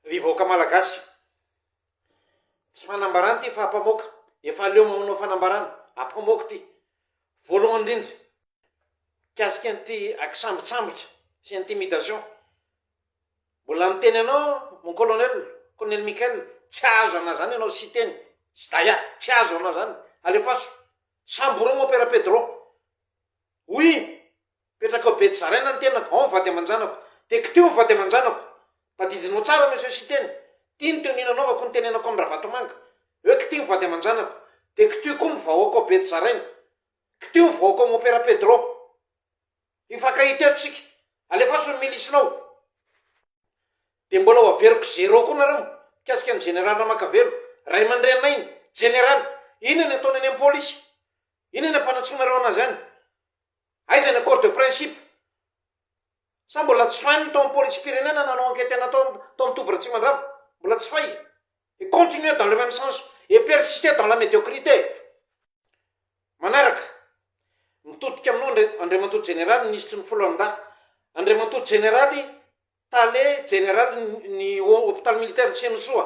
Ry vahoaka Malagasy. Tsy fanambarana ity fa ampamoaka. Efa aleo mamanao fanambarana. Ampamoaka ity. Voalohany indrindra, mikasika an'ity kisambotsambotra sy intimidation. Mbola niteny anao mon colonel, colonel Michael, tsy azo anao zany ianao Siteny, Sdaya, tsy azo anao zany. Alefaso. Samborogno Père Pedro. Oui. Mipetraka ao Betsarena ny tenako, ao ny vady aman-janako. Teko teo ny vady aman-janako. Tadidinao tsara Monsieur Siteny. Ty ny teo nilalaovako nitenenako amin'i Ravatomanga. Eo kty ny vady aman-janako. Dia kty koa ny vahoaka ao Betsarena. Kty ny vahoaka ao Mompera Pedro. Hifankahita eto isika. Alefaso ny milisinao. Dia mbola ho averiko zéro koa nareo mikasika ny Jeneraly Ramakavelo, ray aman-dreninay ny Jeneraly. Inona ny ataony any am-polisy? Inona ny ampanatsoinareo anazy any? Aiza ny accord de principe? Sa mbola tsy fay ny tao am polisim-pirenena nanao ankety anao tao tao am toby Ratsimandrava? Mbola tsy fay? Et continuer dans le même sens et persister dans la médiocrité! Manaraka, mitodika aminao Andri Andriamatoa Jeneraly Minisitry ny Foloalindahy, Andriamatoa Jeneraly Tale Jeneraly ny ny Hôpital Militaire Tsianosoa,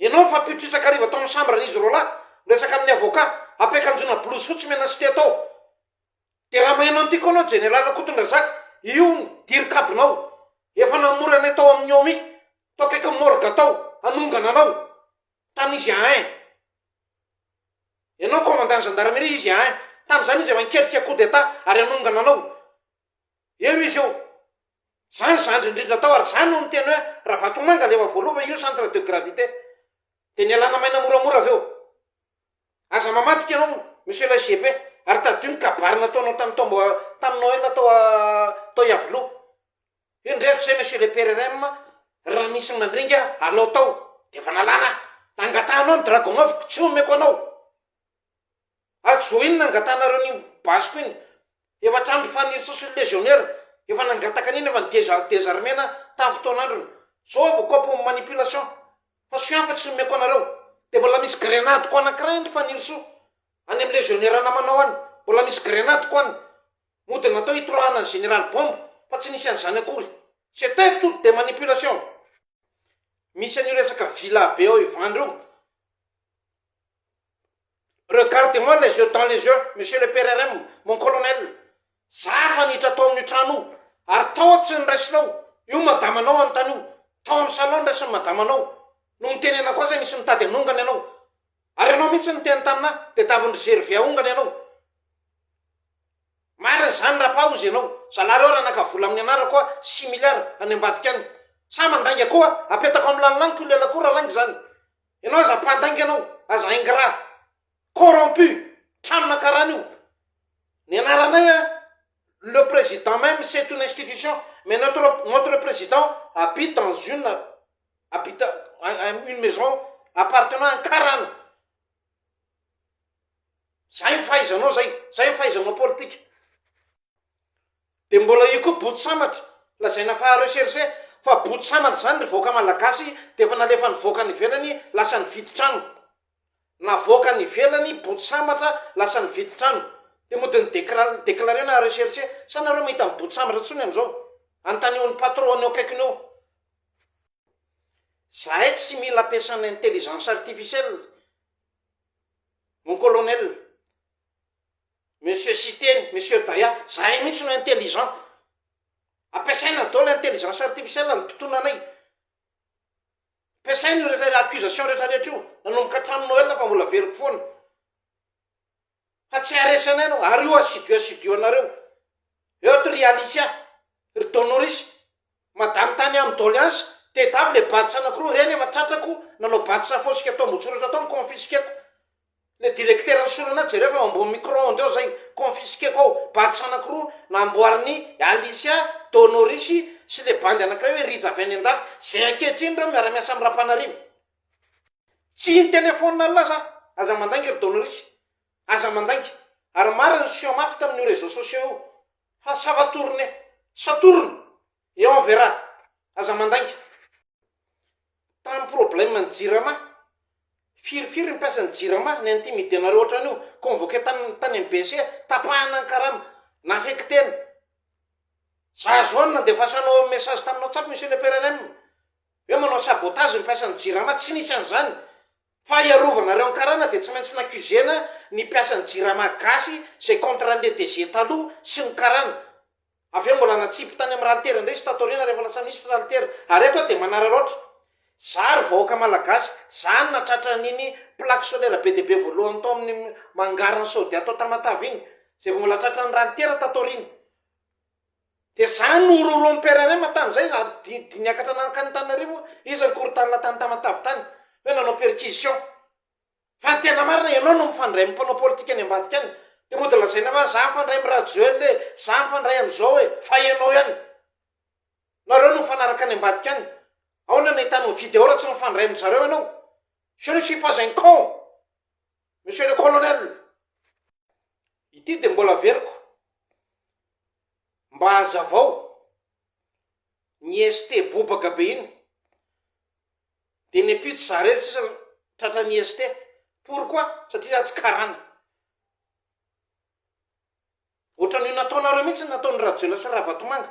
Ianao ny fampioty isakariva tao amin'ny chambre an'izy roalahy, miresaka amin'ny avocat, ampiakanjoana blouse fotsy mena sy tia tao. Dia raha maheno an'ity koa ianao Jeneraly Rakotondrazaka, io ny dirikabinao. Efa namory anay tao amin'ny Omi, tao akaikin'ny morgue tao, hanongana anao. Tany izy ahin. Ianao Commandant ny Gendarmerie, izy ahin. Tamin'izany izy efa niketrika coup d'Etat ary hanongana anao. Eo izy eo. Zany zandry indrindra tao ary zany no niteny hoe Ravatomanga leva voaloha fa io centre de gravité. Dia nialana maina moramora avy eo. Aza mamadika ianao monsieur lay GP ary tadidio ny kabary nataonao tamin'ny taom tamin'ny Noël tao tao Iavoloha. Io indray hatrizay monsieur le PRRM raha misy ny mandringa alao tao dia efa nalana ahy. Dia angatahanao ny dragon-avoko tsy homeko anao. Atsy zao iny nangatanareo an'iny basiko iny, efa hatramin'ny fanirsa sy ny légionnaire, efa nangataka an'iny efa ny deza désarmena tamin'ny fotoan'androny, zao avy koa pour manipulation, fa soin fa tsy nomeko anareo, de mbola misy grenade ko anakiray any ry fanirisoa, any amin'ny légionnaire namanao any, mbola misy grenade ko any, mody natao hitroahana ny général bombe, fa tsy nisy an'izany akory, c'etait toute des manipulations, misy an'io resaka villa be ao Ivandry io. Regarde moi les yeux dans les yeux monsieur le PRRM, mon colonel, za hanitra tao amin'io trano io ary tao aho tsy niraisinao, io madama anao hanontany io, tao amin'ny salon niraisin'ny madama anao no nitenenako azy nisy nitady hanongana ianao ary ianao mihitsy niteny tamin'ahy dia davin-dry Gervais hahongana ianao, marina izany rapa hozy ianao, zalahy reo raha naka vola amin'ny anarako hoa six milliards any ambadika any, sa mandainga koa apetako amin'ny lanilaniko io lela koa raha lainga izany, Ianao aza mpandainga ianao, aza ingrat, corrompu, tranona karaha an'io. Ny anaranay a, le président même c'est une institution, mais notre notre président habite dans une habite une maison appartenant à un karana. Zay ny fahaizanao zay, zay ny fahaizanao politika. Dia mbola io koa boto sambatra, lazaina fa recherche, fa boto sambatra izany ry vahoaka malagasy dia efa nalefa nivoaka any ivelany lasa nividy trano, navoaka any ivelany boto sambatra lasa nividy trano, dia mody ni declarena recherche, sa nareo mahita ny boto sambatra tsony amzao? Antanio ny patron any eo akaikiny eo, zahay tsy mila ampiasana intelligence artificielle mon colonel. Monsieur Siteny, Monsieur Daya, zahay mihitsy no intelligent. Ampiasaina daholo intelligence artificielle ny mpitona anay. Ampiasaina io rehetra accusation rehetra rehetra io, nanomboka hatramin'ny Noël fa mbola averiko foana. Fa tsy haharesy anay ianao, ary io asidioasidioanareo. Eo to ry Alicia, ry Donoris, Madame tany aminy doleance de dame le badge anakiroa reny efa tratrako nanao badge safosika tao ambotsoratra tao ny confisqueko le directeur ny solona jereo fa eo ambony micro onde eo zay confisqueko ao badge anakiroa namboarin'i Alicia donoris sy le bandy anakiray hoe rija avy any andafy zay ankehitriny reo miara miasa aminy rapanarivo tsy ny telephone Allah za aza mandainga ry donoris aza mandainga ary marina ny soa mafy tamin'io reseau sociaux io Fa ça va tourner, satorona, et on verra, aza mandainga. Tamin'ny problème ny jirama, firy firy ny mpiasan'ny jirama ni-intimidenareo ohatran'io, convoquer tany tany amin'ny BC, tapahana ny karama, na-affecter-na. Za zao any nandefasanao message taminao tsato Monsieur le PRRM, hoe manao sabotage ny mpiasan'ny jirama, tsy nisy an'izany, Fa hiarovanareo ny karana dia tsy maintsy naccusena ny mpiasan'ny jirama gasy izay contre ny DG taloha sy ny karana. Avy eo mbola natsipy tany amin'ny ralitera indray izy tato aoriana rehefa lasa minisitra ralitera. Ary eto aho dia manararaotra. Za ry vahoaka malagasy, za no natratra an'iny plaque solaire be dia be voalohany tao amin'ny mangaran'i Saudia tao Tamatave iny, izay vao mbola tratran'ny ralitera tato aoriana. Dia zany no horohoroan'i PRRM tamin'izay raha didy niakatra nankany Antananarivo izy ry Korontana tany Tamatave tany hoe nanao perquisition. Fa ny tena marina ianao no mifandray amin'ny mpanao politika any ambadika any dia mody lazaina fa za mifandray amin'i Rajoel e, za mifandray amin'izao e, fa ianao ihany. Nareo no mifanaraka any ambadika any. Aona no ahitanao video raha tsy mifandray amin-dry zareo ianao? Je ne suis pas un con. Monsieur le Colonel, ity dia mbola averiko mba hazavao, ny ST bobaka be iny dia ny ampitso zare sisa tratran'ny ST, pourquoi? satria za tsy karana, ohatran'io nataonareo mihitsy ny nataon'i Rajoelina sy Ravatomanga,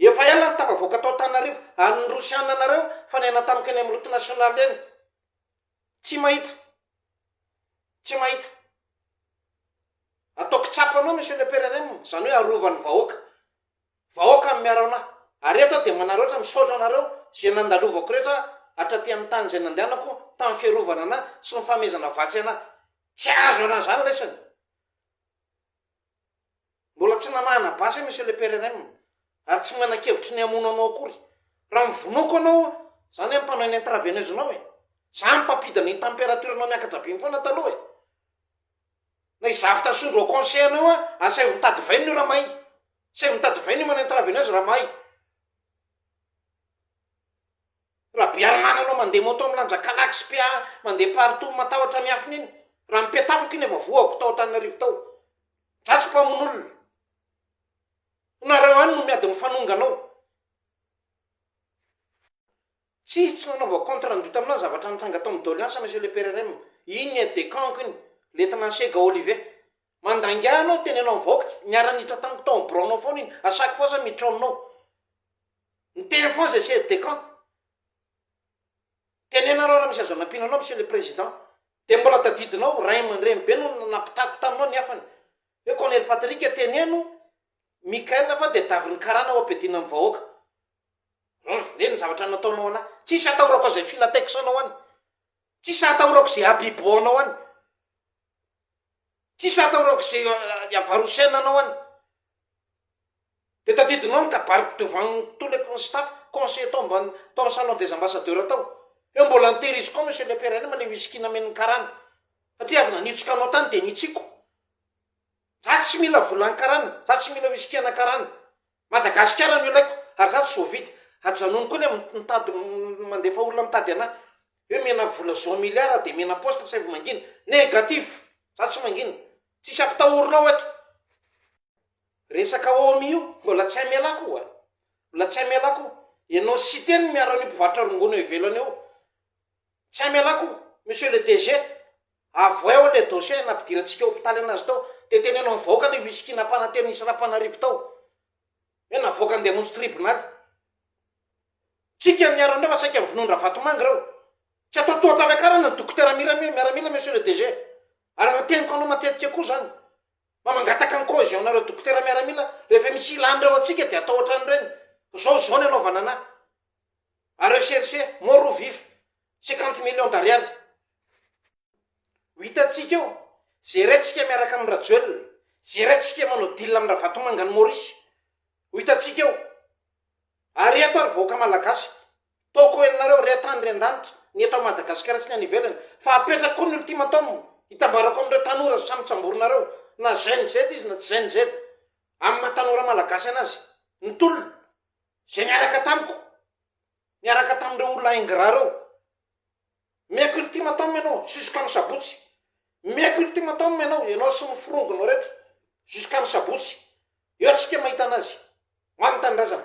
Efa ela no tafavoaka tao Antananarivo ary ny Rosiana anareo fa niaina tamiko eny amin'ny route nationale eny. Tsy mahita. Tsy mahita. Atao kitsapa anao Monsieur le PRRM, izany hoe arova ny vahoaka. Vahoaka no miaro anah. Ary eto aho dia manary ohatra misaotra anareo izay nandalovako rehetra hatraty amin'ny tany izay nandehanako tamin'ny fiarovana anah sy ny fanomezana vatsy anah. Tsy azo anah izany raisina. Mbola tsy namahana basy aho Monsieur le PRRM, ary tsy manan-kevitry ny hamono anao akory. Raha mivonoako anao, izany hoe mpanao ny intraveineuse nao e! Za no mpampidina ny temperature nao miakatra be mifoana taloha e! Na i Zavita Sondro au conseil anao a, asaivo mitady vainina io raha mahay! Asaivo mitady vainina io manao intraveineuse raha mahay! Rabearimana anao mandeha moto milanja kalax PA mandeha partout matahotra ny afina iny raha ny petafako iny efa voako tao Antananarivo tao dratsy mpamono olona nareo any no miady mifanonga anao tsis tsy nanaovako compte rendu taminao zavatra nitranga tao amin'ny doleance monsieur le PRRM iny aide de camp-ko iny le tena sega olive Mandainga anao tena ianao mivaoka tsy niara niditra tamiko tao am birao nao foana iny à chaque fois za miditra ao aminao ny teny foana zay c'est de quand tenenareo raha misy azo anampiana anao monsieur le président de mbola tadidinao ray amandreny be no nampitako taminao ny hafany hoe colonel Patrick teneno Michael fa de davin ny karana ho ampedina am vahoaka Neny ny zavatra nataonao anah tsisy atahorako zay filateksanao any tsisy atahorako zay habibohanao any Tsisy atao raoka izay iavarosen anao any de tadidinao ny kabariko devant tous les con staff conseillers tao ambany tao am salon des ambassadeurs tao hoe mbola an tehiriziko ao monsieur le père any maneho whisky nameno ny karana satria avy nanitsika anao tany de nitsiko za tsy mila volan karana za tsy mila whisky ana karana Madagasikara no ilaiko, ary za tsy sôvida, ajanony koa le mitady mandefa olona mitady anah, hoe mena vola zao milliard aho de mena poste saivo mangina, negatif, za tsy mangina, tsisy ampitahorinao eto, resaka omi io mbola tsy amela koa, mbola tsy amela koa, enao siteny miaro an'io mpivarotra rongony eo ivelany eo, Tsy hamela ko Monsieur le DG, avoay ao le dossier nampidirantsika hopitaly anazy tao de teneno am vahoaka le whisky nampanantena hisy Rapanarivo tao hoe navoakany de hamonjy tribonaly. Tsika ny arandreo fa saika vonoin Ravatomanga reo. Tsy atao toa tafakarana ny dokotera mirami miaramila Monsieur le DG. Ary efa teniko anao matetika koa zany fa mangataka ny cohesion nareo dokotera miaramila rehefa misy ilany reo antsika de atao otran'ireny. Zao zao ny anaovana anah. a rechercher mort ou vif cinquante millions d'ariary ho hitantsika eo, zeraintsika miaraka amin'i Rajoelina, zeraintsika manao deal amin'i Ravatomanga any Maurice, ho hitantsika eo, ary eto ary vahoaka Malagasy tôko henonareo re an-tany re an-danitra ny eto Madagasikara sy ny any ivelany fa apetrako koa ny ultimatum hitambarako amin'ireo tanora samy tsamborinareo na zay ny zed izy na tsy zay ny zed amin'ny maha tanora Malagasy anazy ny tolona izay niaraka tamiko, niaraka tamin'ireo olona ingrats ireo. Omeko ultimatum ianao jusqu'amin'ny sabotsy. Omeko ultimatum ianao, ianao sy ny firongonao rehetra, jusqu'amin'ny sabotsy. Eo tsika mahita anazy. Ho an'ny tanindrazana.